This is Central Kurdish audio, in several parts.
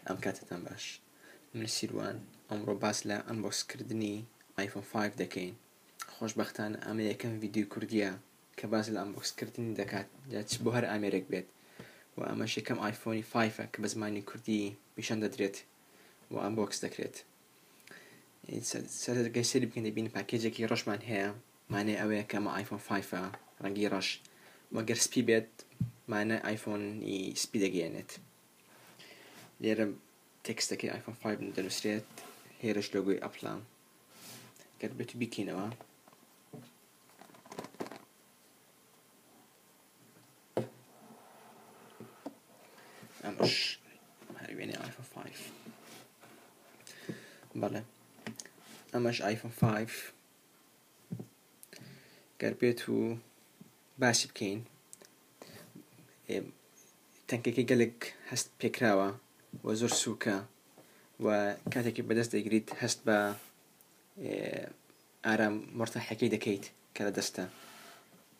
ئەم کاتەتان باش من سیروان ئەمڕۆ باس لە ئەمبۆسکردنی ئایفۆن 5 دەکەین خۆشببختان ئەمە یەکەم ویددیو کوردیە کە باس لە ئەمبۆکسکردنی دەکات لە چ بۆ هەر ئامێرێک بێت و ئەمە شەکەم ئایفۆنی 5ە کە بە زمانی کوردی پیشان دەدرێت و ئەمبۆکس دەکرێت سەرگەسەری بکەین دەبین پاکێجێکی ڕۆشمان هەیە مانای ئەوەیە کە ئەمە ئایفۆن فایفە ڕەنگی ڕەش وە گەر سپی بێت مانای ئایفۆنی سپی دەگەیەنێت لێرە تێکستەکەی ئایفۆن فایف دەنووسرێت هێرش لۆگوی ئەپلا گەر بێت بیکەینەوە ئەمەش هەروێنێ ئایفۆن فایف بەڵێ ئەمەش ئایفۆن فایف گەر بێت و باسی بکەین تەنکەکەی گەلێک هەست پێکراوە و زۆر سووکە و کاتێکی بەدەست دەگریت هەست بە ئارام مرتاحەکەی دەکەیت کە لە دەستە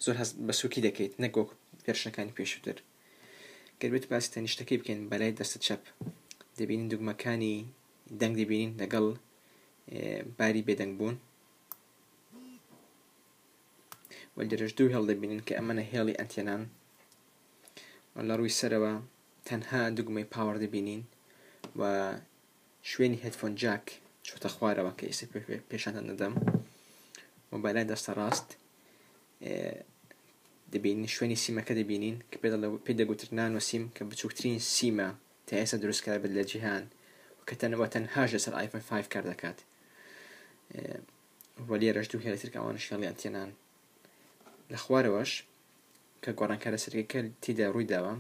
زۆر هەست بە سووکی دەکەیت نەگۆک پێرشەکانی پێشتر گەربێت باسی تەنیشتەکەی بکەین بەلای دەستە چەپ دەبینین دوگمەکانی دەنگ دەبینین لەگەڵ باری بێدەنگ بوون و لێرەش دوو هێڵ دەبینین کە ئەمەە هێڵی ئەتێنان و لە ڕووی سەرەوە تەنها دوگمەی پاوەڕ دەبینین و شوێنی هەتفۆن جاک چۆتە خوارەوە کە ئێستا پێشانتان نەدەم و بەلای دەستە ڕاست دەبینین شوێنی سیمەکە دەبینین کە پێ دەگوترنان و سیم کە بچووکترین سیمە تا ئێستا دروست کرابێت لە جیهان کە تەنەوە تەنهاش لەسەر ئایفۆن 5 کار دەکات وە لێرەش دوو هێڵی ترکە ئەوانش هێڵیان تێنان لە خوارەوەش کە گۆڕانکارە سەرەکە تیدا ڕووی داوە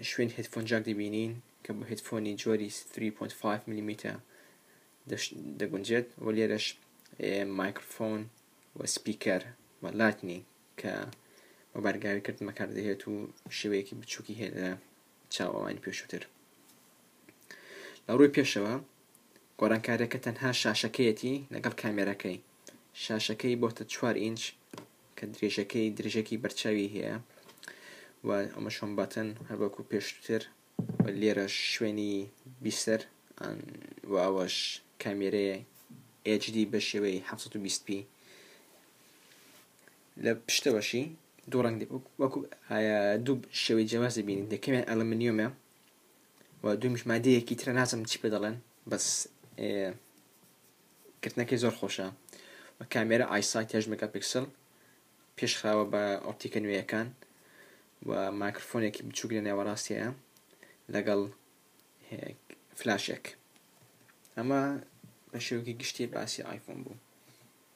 شوێن هدفۆن جاک دەبینین کە بۆ هدفۆنی جۆری 3.5 ملیمیتە دەگونجێت و لێرەش مایکرفۆن و سپیکەر و لاتنی کە بە بارگاوی کردمە کاردەهێت و شێوەیەکی بچووکی هێنە چاوەوانی پێشووتر. لە ڕووی پێشەوە گۆرانکارەکە تەنها شاشەکەیەتی لەگەڵ کامێرەکەی شاشەکەی بۆتە چوار ئینچ کە درێژەکەی درێژەکی بەرچاوی هەیە و ئەمە شۆن باتن هەروەکو پێشتر لێرە شوێنی بیسەر و ئەوەش کامێرەیە HD بە شێوەی 720p لە پشتەوەشی دوو ڕەنگ دە وەکو دوو شێوەی جیاواز دەبینین دەکەوێن ئەلمنیۆمە و دومیش مادەیەکی ترە نازم چی پێ دەڵێن بەس کردنەکەی زۆر خۆشە و کامێرە ئایسایت هێش مەگا پکسل پێشخراوە بە ئۆپتیکە نوێیەکان و ماکرفۆنێکی بچووک لە نێوەڕاستەیە لەگەڵ فلاشێک ئەمە بە شێوکی گشتی باسی ئایفۆن بوو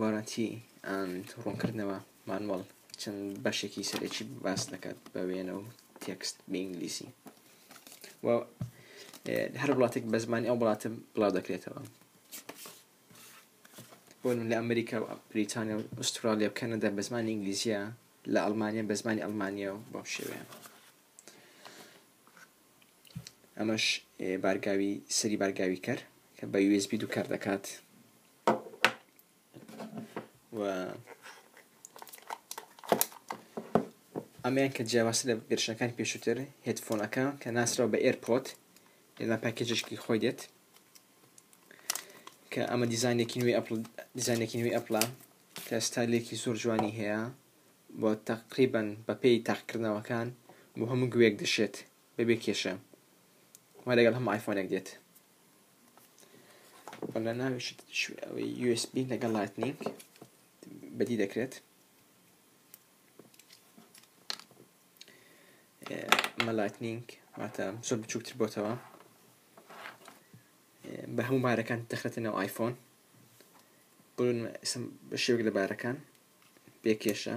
Warranty and ڕوونکردنەوە، مانوەڵ، چەند بەشێکی سەرەکی باس دەکات بە وێنە و تێکست بە ئینگلیسی و هەر وڵاتێک بە زمانی ئەو وڵاتە بڵاو دەکرێتەوە بۆن لە ئەمریکا و بریتانیا و ئوسترالیا و کەنەدا بە زمانی ئینگلیزیە لە ئەڵمانیا بە زمانی ئەڵمانیا و بەم شێوەیە ئەمەش بارگاوی سەری بارگاوی کەر کە بە USB دووکار دەکات و ئەمیان کە جیاواز لە گرشەکان پێشووتر هێتفۆنەکە کە ناسراو بە ئێرپۆت لەلا پاکێجشکی خۆی دێت کە ئەمە دیزانێکی نوێی ئەپل دیزانێکی نوێی ئەپلا کە ستایلێکی زۆر جوانی هەیە بۆ تقریبن بەپی تاقکردنەوەکان بۆ هەموو گوێک دەشێت بەبێ کێشە وە لەگەڵ هەم آیفۆنێک دێت وەلا ناوی شت شو ئەوەی یو اس بی لەگەڵ لایتنینگ بەدی دەکرێت مە لایتنینگ واتە زۆر بچووکتر بۆتەوە بە هەموو بارەکان دەخرێتە ناو ئایفۆن بۆ شێوک لە بارەکان پێکێشە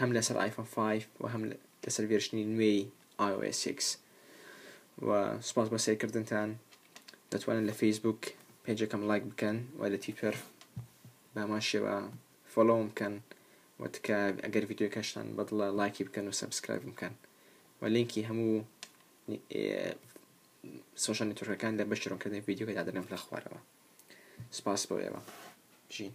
هەم لەسەر ئایفۆن 5 و هەم لەسەر ڤێرشنی نوێی iOS 6 و سپاس بۆ سێرکردنتان دەتوانن لە فەیسبوک پێجەکەم لایک بکەن و لە تویتەر بامان شێوە فۆلۆم بکەن و تکا ئەگەر ڤیددیوکەشتان بەدڵە لایکی بکەن و سەبسکرایب بکەن و لینکی هەموو سۆشانی تورکەکان لە بەشترۆکردنی ڤیددیوکە دادنم لە خوارەوە سپاس بۆ ئێوە بژین